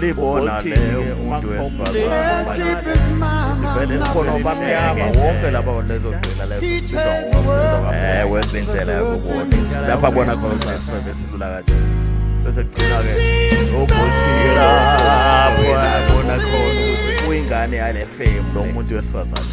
libona le umuntu wesifazanevele bamnyama wonke laba lezogcina lezoewe wenza indlela yakubona lapha bona khona ukuthi nesifebe silula kanje bese kugcina-ke ukuthi lapho yabona khona ukuthi uyingane yale fame lo muntu wesifazane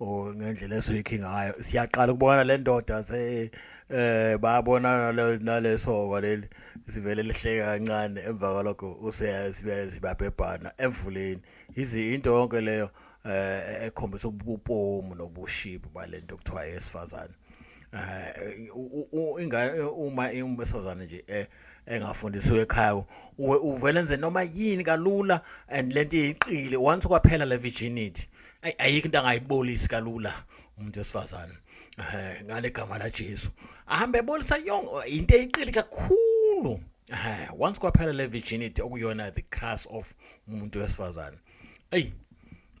or ngendlela esuyikhi ngayo siyaqala ukubona le ndoda se eh bayabona nalesoka leli sivele lihleka kancane emva kwalokho useyasibabhebhana emvuleni izi into yonke leyo eh ekhombisa ubupomu nobushibu balento kuthiwa yesifazane eh ingane uma imbesozana nje eh engafundisiwe ekhaya uvele nze noma yini kalula and lento iyiqile once kwaphela le virginity ayi ayikho into angayibolisi kalula umuntu wesifazane eh ngale gama la Jesu ahambe ebolisa yonke into eyiqili kakhulu eh once kwaphela le virginity okuyona the crush of umuntu wesifazane ayi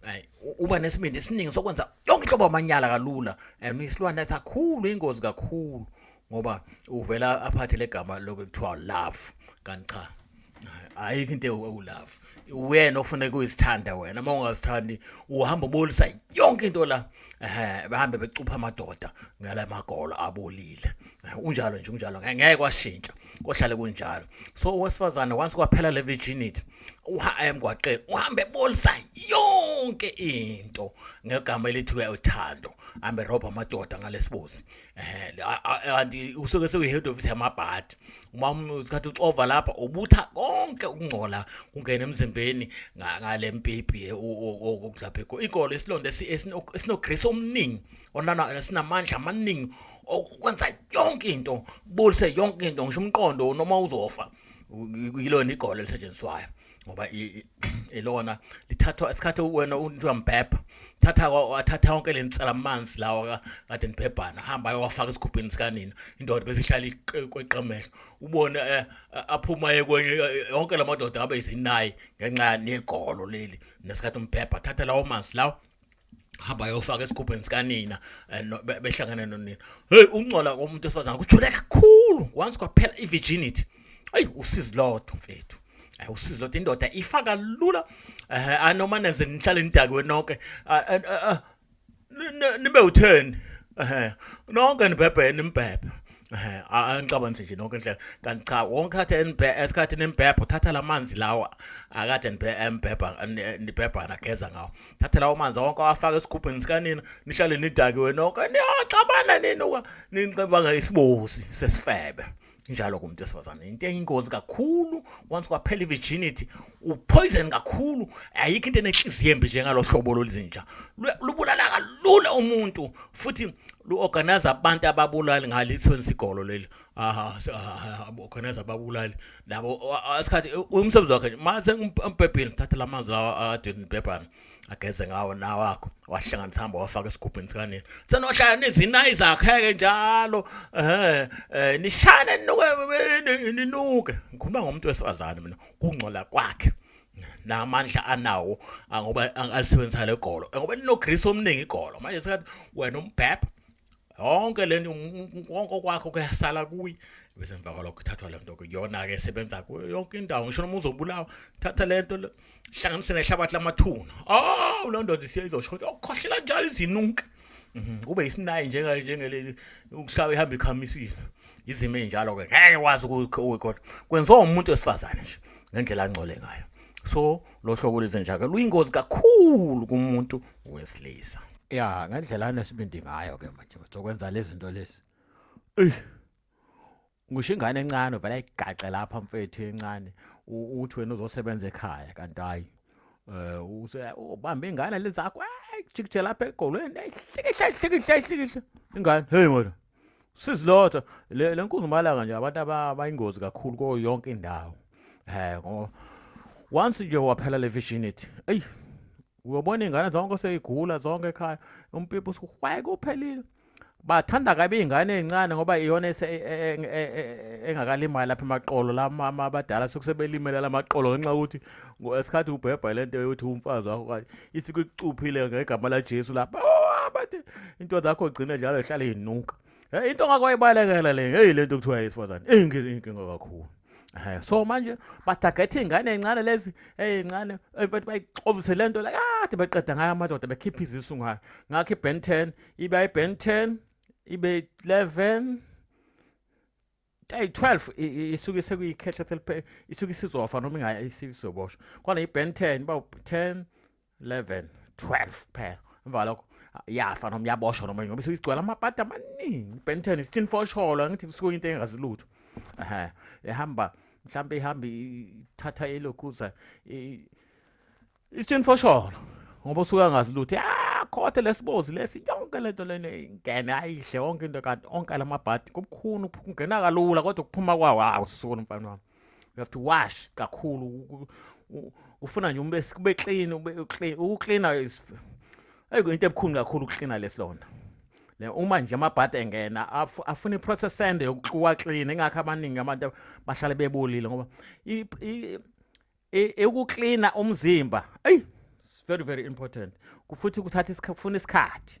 ayi uba nesibindi esiningi sokwenza yonke inhlobo amanyala kalula and isilwane athi akhulu ingozi kakhulu ngoba uvela aphathe legama lokuthiwa love kanti cha ayikho into ewulove wena ofuneka uyisithanda wena uma ungazithandi uhamba ubolisa yonke into la eh bahambe becupha amadoda ngala magolo abolile unjalo nje unjalo ngeke kwashintsha kohlale kunjalo so owesifazane once kwaphela le virginity uha emgwaqeni uhambe bolisa yonke into ngegama elithiwe uthando ambe robha amadoda ngalesibuzi eh kanti usuke sekuyi-head office yamabhadi uma usikhathi uxova lapha ubutha konke ukungcola kungena emzimbeni ngale mpipi eh, okudlaphekho ikolo isilonda esinogrisi omningi sinamandla amaningi okwenza yonke into bulise yonke into ngisho umqondo noma uzofa yilona igolo elisetshenziswayo ngoba ilona lithathwa isikhathi wena umuntu uyambhebha thatha wathatha yonke le nsela amanzi lawa kade nibhebhana hamba ayowafaka esigubhini sikanina indoda bese ihlala kweqemehlo ubone eh, aphuma yekwenye eh, yonke la madoda abe izinayi ngenxa negolo leli nesikhathi umbhebha thatha lawo manzi lawo hamba yofaka esigubheni sikanina eh, behlangene nonina hey ungcola komuntu esifazana kujule kakhulu once kwaphela i-virginity ayi usizi lodwa mfethu ayi usizi lodwa indoda ifaka lula eh anoma nenze nihlale nidakiwe nonke ah, eh, eh, eh, nibe u10 eh nonke nibhebhe nimbhebhe eh angicabanzi nje nonke indlela kanti cha wonke athe esikhathi nembhebha uthatha lamanzi lawa akade nibhebha nibhebha nageza ngawo thatha lawo manzi wonke awafaka esigubhini sikanina nihlale nidakiwe nonke niyaxabana nini uka nicabanga isibozi sesifebe njalo kumuntu esifazane into eyingozi kakhulu once kwaphela i-virginity upoison kakhulu ayikho into enenhliziyo embi njengalo hlobo lolizinja lubulala kalula umuntu futhi lu-organize abantu ababulali ngalisebenzisa igolo leli aha ah, ah, khona zababulali nabo asikhathi umsebenzi wakhe mase ngibhebhile thatha lamazwi lawa adini bhebhana ageze ngawo nawakho wahlanganisa hamba wafaka esigubhini sikanini senohlala nizinayi zakheke njalo eh, eh nishane ninuke ninuke ngikhuluma ngomuntu wesifazane mina kungcola kwakhe namandla anawo ngoba alisebenzisa legolo ngoba linogrease omningi igolo manje sekathi wena umbhebha yonke le nto konke okwakho kuyasala kuye bese emva kwalokho ithathwa le nto-ke kuyona-ke esebenza kuyo yonke indawo ngisho noma uzobulawa thatha le nto hlanganise nehlabathi lamathuna awu loo ndoda isiye izosho ukuthi okukhohlela oh, njalo izinunka mhm, kube yisinayi njengelezi ukuhlaba ihamba ikhamisile izimo ey'njalo-ke ngeke wazi kodwa kwenziwa umuntu wesifazane nje ngendlela angcole ngayo so lo hlobo lwezinja-ke luyingozi kakhulu kumuntu wesilisa ya ngendlela anesibindi ngayo ke manje uzokwenza lezi zinto lezi ngisho ingane encane uvela igaxe lapha mfethu encane uthi wena uzosebenza ekhaya kanti hayi um use ubambe ingane le zakho jikije lapha egolweni hlikihle hlikihle hlikihle ingane heyi mona sizilotha le nkunzumalanga nje abantu abayingozi kakhulu kuyo yonke indawo um ngoba once nje waphela le vision ithi eyi uyobona iy'ngane zonke seyigula zonke ekhaya umpipi usuhwaye kuphelile bathanda kabi iy'ngane ey'ncane ngoba iyona e, e, e, engakalimali lapha emaqolo lama abadala sekusebelimele la maqolo ngenxa yokuthi ngesikhathi ubhebha le nto yokuthi umfazi wakho kanye ithi kucuphile ngegama lajesu lapha oh, bathi into zakho gcine njalo ihlale inuka Eh, into ngakwayibalekela le hey lento kuthiwa yesifazane inkinga kakhulu eh, so manje batargethe ingane encane lezi eyincane eh, bathi bayixovise lento la kade baqeda ngayo amadoda bekhipha izisu ngayo ngakho iben 10 ibe iben 10 ibe 11 Hey 12 isuke sekuyikhetha theliphe isuke isizofa noma ingaya isizoboshwa. Kwana iBen 10 ba 10 11 12 phela. Emva lokho yafa noma yaboshwa noma ngoba isigcwala amapata amaningi. Ben 10 isithin fosholo ngithi kusuke into engazilutho. Ehhe ehamba mhlambe ihamba ithatha elokuza Isithini fosholo ngoba usuka ngazi lutho ah khothe lesibozi lesi yonke lento lena ingene ayidle wonke into kanti onke lamabhadi kubukhuni ukungena kalula kodwa ukuphuma kwawo hawu sisukona mfana wami you have to wash kakhulu ufuna nje umbe kube clean ube clean ukucleana is ayiko into ebukhuni kakhulu ukucleana lesilonda le uma nje amabhadi engena afuna iprocess ende yokuwa clean engakho abaningi abantu bahlale bebolile ngoba ukuklina umzimba eyi very very important futhi kuthatha kufuna isikhathi